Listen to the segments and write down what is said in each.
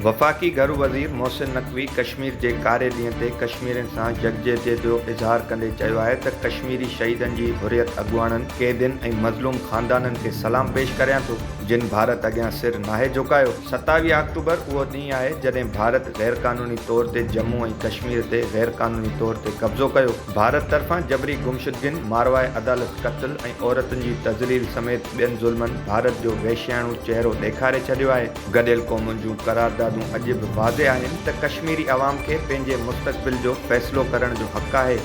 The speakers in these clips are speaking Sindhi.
وفاقي گهرو وزير محسن نقوي ڪشمير جي ڪاري ڏينهن تي ڪشميرين سان يڪجهتي جو اظهار ڪندي چيو آهي ته ڪشميري شهيدن جي حريت اڳواڻن، قيدين ۽ مظلوم خاندانن کي سلام پيش ڪريان ٿو. جن ڀارت اڳيان سر ناهي جهڪايو. ستاويهه آڪٽوبر اهو ڏينهن آهي جڏهن ڀارت غير قانوني طور تي جمون ۽ ڪشمير تي غير قانوني طور تي قبضو ڪيو. ڀارت طرفان جبري گمشدگين، ماروئي عدالت قتل ۽ عورتن جي تذليل سميت ٻين ظلمن ڀارت جو وحشياڻو چهرو ڏيکاري ڇڏيو آهي. گڏيل قومن جون قراردادون اڄ به واضح آهن ته ڪشميري عوام کي پنهنجي مستقبل جو فيصلو ڪرڻ جو حق آهي.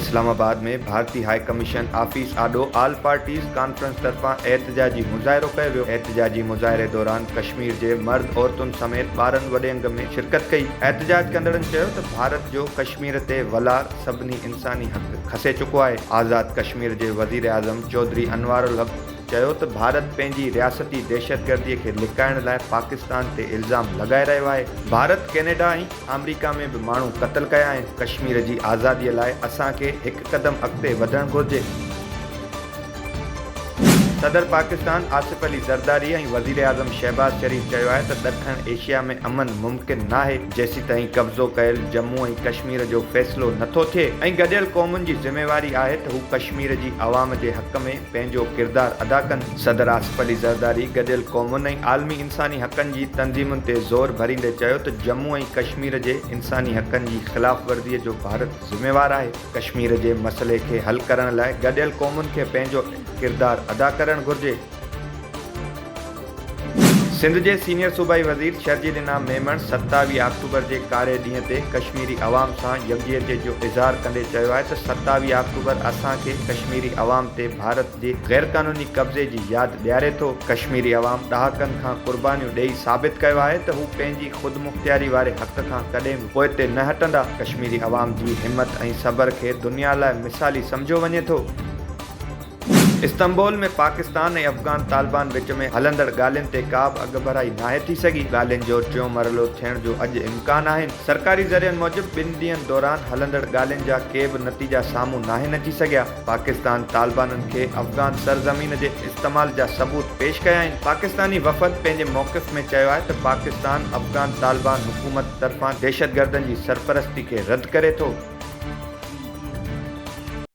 اسلام آباد ۾ ڀارتي هاء ڪميشن آفيس آڏو آل پارٽيز ڪانفرنس طرفان احتجاجي مظاهرو ڪيو ويو، احتجاجي مظاهري دوران ڪشمير جي مرد عورتن سميت ٻارن وڏي انگ ۾ شرڪت ڪئي، احتجاج ڪندڙن چيو ته ڀارت جو ڪشمير تي ولار سڀني انساني حق کسي چڪو آهي، آزاد ڪشمير جي وزيراعظم چوڌري انوارالحق چيو ته ڀارت پنهنجي رياستي دهشتگردي کي لڪائڻ لاء پاڪستان تي الزام لڳائي رهيو آهي، ڀارت ڪينيڊا ۽ آمريڪا ۾ به ماڻهو قتل ڪيا آهن ڪشمير جي آزادي لاء اسان کي هڪ قدم اڳتي وڌڻ گهرجي. صدر پاڪستان آصف علي زرداري ۽ وزيراعظم شهباز شريف چيو آهي ته ڏکڻ ايشيا ۾ امن ممڪن ناهي جيسيتائين قبضو ڪيل جمون ۽ ڪشمير جو فيصلو نٿو ٿئي ۽ گڏيل قومن جي ذميواري آهي ته هو ڪشمير جي عوام جي حق ۾ پنهنجو ڪردار ادا ڪن. صدر آصف علي زرداري گڏيل قومن ۽ عالمي انساني حقن جي تنظيمن تي زور ڀريندي چيو ته ڄمون ۽ ڪشمير جي انساني حقن جي خلاف ورزي جو ڀارت ذميوار آهي، ڪشمير جي مسئلي کي حل ڪرڻ لاء گڏيل قومن کي پنهنجو ڪردار ادا ڪرڻ گهرجي. سنڌ جي سينيئر صوبائي وزير شرجيل انعام ميمڻ ستاويهه آڪٽوبر جي ڪاري ڏينهن تي ڪشميري عوام سان يڪجهتي جو اظهار ڪندي چيو آهي ته ستاويهه آڪٽوبر اسان کي ڪشميري عوام تي ڀارت جي غيرقانوني قبضي جي ياد ڏياري ٿو، ڪشميري عوام ڏهاڪن کان قربانيون ڏئي ثابت ڪيو آهي ته هو پنهنجي خودمختياري واري حق کان ڪڏهن به پوئتي نه هٽندا، ڪشميري عوام جي همت ۽ صبر کي دنيا لاء مثالي سمجهيو وڃي ٿو. استنبول ۾ پاڪستان ۽ افغان طالبان وچ ۾ هلندڙ ڳالهين تي ڪا به اڳڀرائي ناهي ٿي سگهي، ڳالهين جو ٽيون مرحلو ٿيڻ جو اڄ امڪان آهن، سرڪاري ذريعن موجب ٻن ڏينهن دوران هلندڙ ڳالهين جا ڪي به نتيجا سامهون ناهن اچي سگهيا، پاڪستان طالبانن کي افغان سرزمين جي استعمال جا ثبوت پيش ڪيائين، پاڪستاني وفد پنهنجي موقف ۾ چيو آهي ته پاڪستان افغان طالبان حڪومت طرفان دهشتگردن جي سرپرستي کي رد ڪري ٿو.